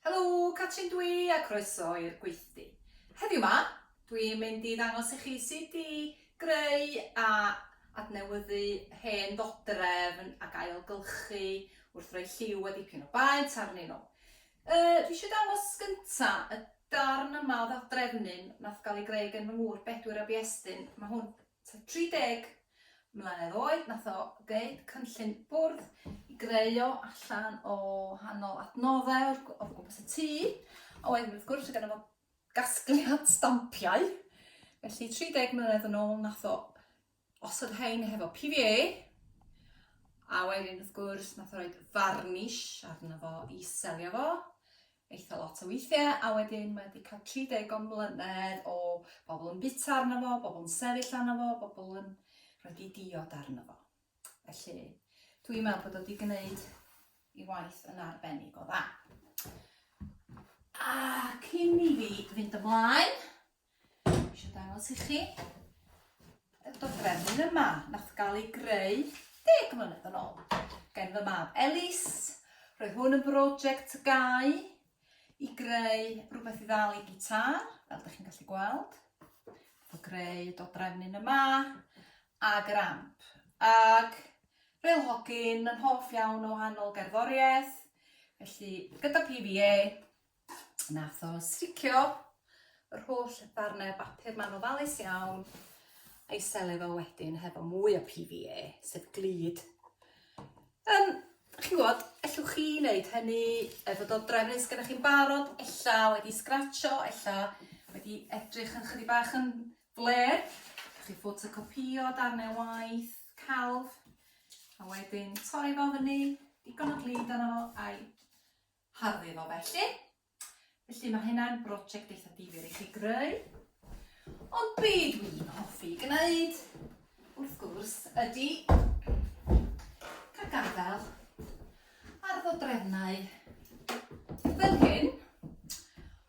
Helo, Catrin dwi a croeso i'r gweithdy. Heddiw ma, dwi'n mynd i ddangos i chi sut i greu a adnewyddu hen ddodrefn ac ailgylchu wrth roi lliw a dipyn o baent arnyn nhw. E, dwi eisiau dangos gynta y darn yma o ddodrefnyn nath gael ei greu gen fy ngŵr Bedwyr a Biestyn. Mae hwn Tua 30 mlynedd oed nath o ddeud cynllun bwrdd i greu o allan o hanol adnoddau o'r o gwmpas y tŷ, a wedyn wrth gwrs oedd gynno fo gasgliad stampiau, felly 30 mlynedd yn ôl nath o osod hein hefo PVA, a wedyn wrth gwrs nath o roed farnish arno fo i selio fo, eitha lot o weithie a wedyn mae 'di ca'l tri deg o mlynedd o bobl yn bita arno fo, bobl yn sefyll arno fo, bobl yn rhoid 'u diod arno fo. Felly dwi'n meddwl bod o 'di gneud 'i waith yn arbennig o dda. Ac cyn i fi fynd ymlaen Eisiau dangos i chi y dodrefn yma nath gael ei greu deg mlynedd yn ôl gen fy mab Elis. Roedd hwn yn brosiect gau i greu rhywbeth i ddal i gitar, fel ydych chi'n gallu gweld. Fo greu dodrefn yn yma, ag yr amp. Ag fel hogyn yn hoff iawn o wahanol gerddoriaeth, felly gyda PVA, Nath o sticio yr holl ddarnau bapur ma'n ofalus iawn a'i sele fo wedyn hefo mwy o PVA, sef glid. Um, chi'n gwybod, ellwch chi wneud hynny efo dod drefn nes gyda chi'n barod, ella wedi sgratcho, ella wedi edrych yn chydig bach yn fler, chi fod y copio dan ei waith, calf, a wedyn torri fo fyny, digon o glid arno fo, a'i Harddwch o felly. Felly mae hynna'n brosiect eitha difyr i chi greu. Ond be dwi'n hoffi gwneud, wrth gwrs, ydy cael gadael ar ddodrefnau fel hyn.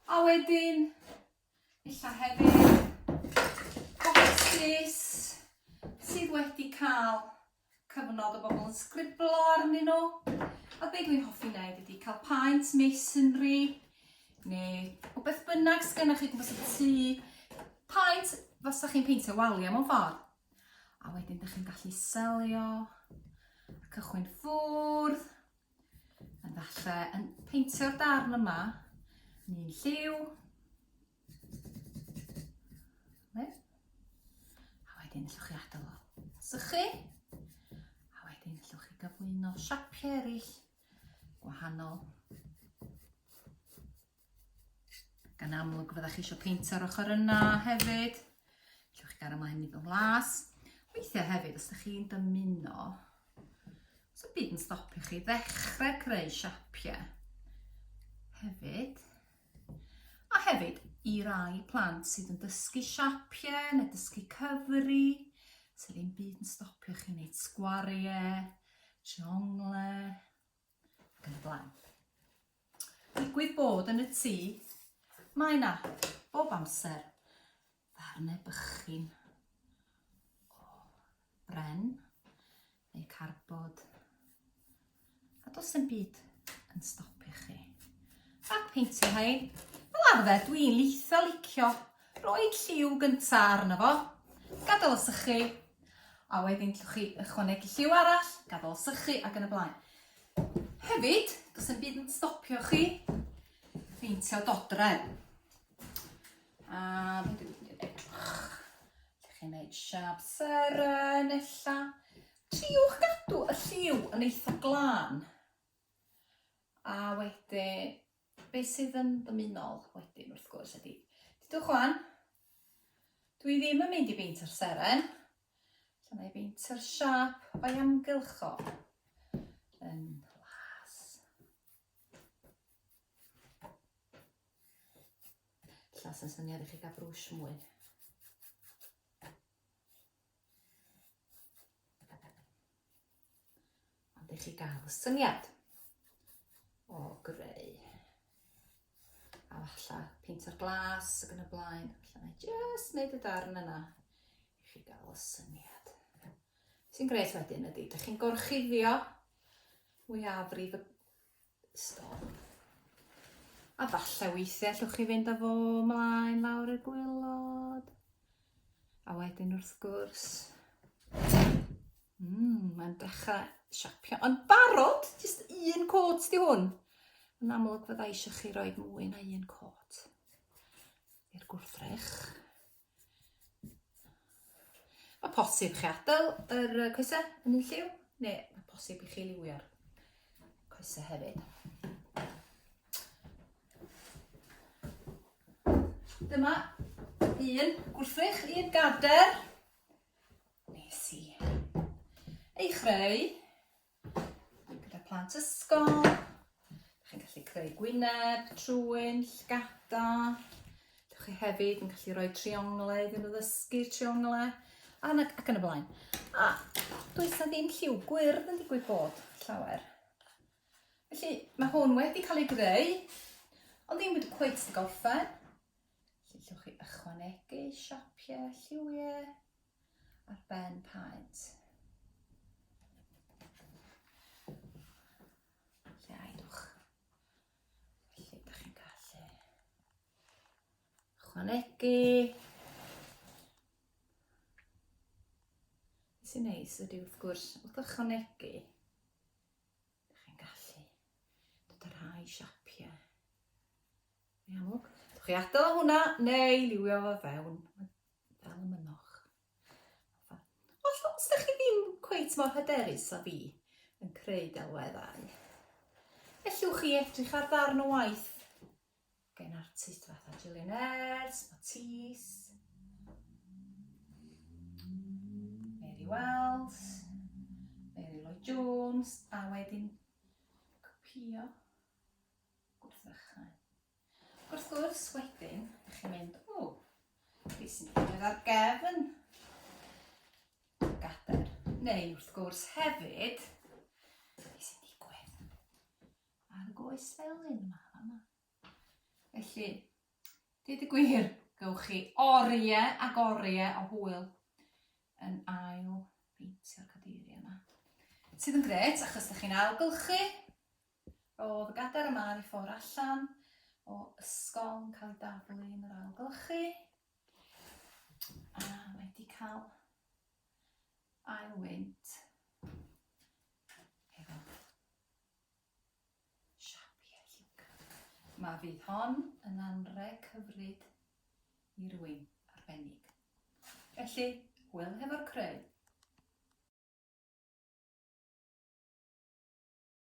A wedyn, illa hefyd, bocsys sydd wedi cael Cyfnod o bobl yn sgriblo arnyn nhw. A be dwi'n hoffi wneud ydy cael paent masonry neu o beth bynnag sydd gennych chi gwmpas y tŷ. Paent fasa chi'n peintio waliau mewn ffordd. A wedyn ydych chi'n gallu selio a cychwyn ffwrdd. Yn falle yn peintio'r darn yma, ni'n lliw, Wen. A wedyn allwch chi adael o sychu. A wedyn allwch chi gyflwyno siapiau eraill gwahanol. Gan amlwg fyddwch chi eisiau peintio'r ochr yna hefyd. Allwch chi gael ymlaen i fy nglas. Weithiau hefyd, os ydych chi'n dymuno, os y byd yn stopio chi ddechrau creu siapiau hefyd, A hefyd i rai plant sydd yn dysgu siapiau neu dysgu cyfri, sydd ddim byd yn stopio chi wneud sgwariau, trionglau, ac yn y blaen. Digwydd bod yn y tŷ, mae yna bob amser Ddarnau bychin o bren neu carbod. A dos yn byd yn stopio chi. A peintio hei. Fel arfer, dwi'n leitha licio roi lliw gyntaf arno fo. Gadael o sychu. A wedyn llwch chi ychwanegu lliw arall, gadael o sychu ac yn y blaen. Hefyd, dos yn byd yn stopio chi peintio dodrefn. A fi'n dweud fi'n dweud edrych. Ydych chi'n gwneud siap seren illa. Triwch gadw y lliw yn eitha glân. A wedyn, be sydd yn ddymunol wedyn wrth gwrs ydy. Dydwch wan, dwi ddim yn mynd i beint o'r seren. Lle mae beint o'r siap o'i amgylch o. Yn Ella sy'n syniad i chi gael brwsh mwy. Ond i chi gael syniad o greu. A falle pint o'r glas ac yn y blaen. Alla na just wneud y darn yna i chi gael y syniad. Sy'n greu wedyn ydy, dych chi'n gorchuddio mwyafrif y Stop. A falle weithiau allwch chi fynd â fo mlaen lawr y gwylod. A wedyn wrth gwrs... Mm, mae'n dechrau siapio. Ond barod, jyst un cwrt di hwn. Yn amlwg fydda eisiau chi roi mwy na un cwrt i'r gwrthrych. Mae posib chi adael yr coesau yn un lliw, neu mae posib i chi liwio'r coesau hefyd. Dyma un gwrthrych, un gader. Nes i ei chreu. gyda plant ysgol. Chi'n gallu creu gwyneb, trwyn, llgada. Dych chi hefyd yn gallu rhoi trionglau iddyn nhw ddysgu trionglau. A, ac yn y blaen. A does na ddim lliw gwyrdd yn digwydd bod llawer. Felly mae hwn wedi cael ei greu, ond ddim wedi cweith dy gorffen. Gellwch chi ychwanegu siapiau lliwiau ar ben paent. Lle aedwch. Felly, ydych chi'n gallu ychwanegu. Sy'n neis ydy wrth gwrs, wrth ychwanegu, ydych chi'n gallu dod â rhai siapiau Yn amlwg. Dewch chi adael hwnna neu liwio fo fewn fel y mynwch. Os ydych chi ddim cweit mor hyderus a fi yn creu delweddau, ellwch chi edrych ar ddarn o waith gen artist fatha Gillian Ayres, Matisse, Mary Wells, Mary Lloyd Jones, a wedyn copio wrth ddechrau. Wrth gwrs, wedyn, ydych chi'n mynd, o, fi sy'n digwydd ar gefn gader. Neu, wrth gwrs, hefyd, fi sy'n digwydd ar y goes felyn yma, yma. Felly, dweud y gwir, gywch chi oriau ac oriau o hwyl yn ail beintio'r cadeiriau yma. Sydd yn gret, achos ydych chi'n ailgylchu, Roedd gadair y mân i ffwrdd allan o ysgol yn cael ei daflu yn yr ail glychu. A mae wedi cael ail wynt. Efo siapi a lliwga. Mae fydd hon yn anreg hyfryd i rywun arbennig. Felly, hwyl hefo'r creu!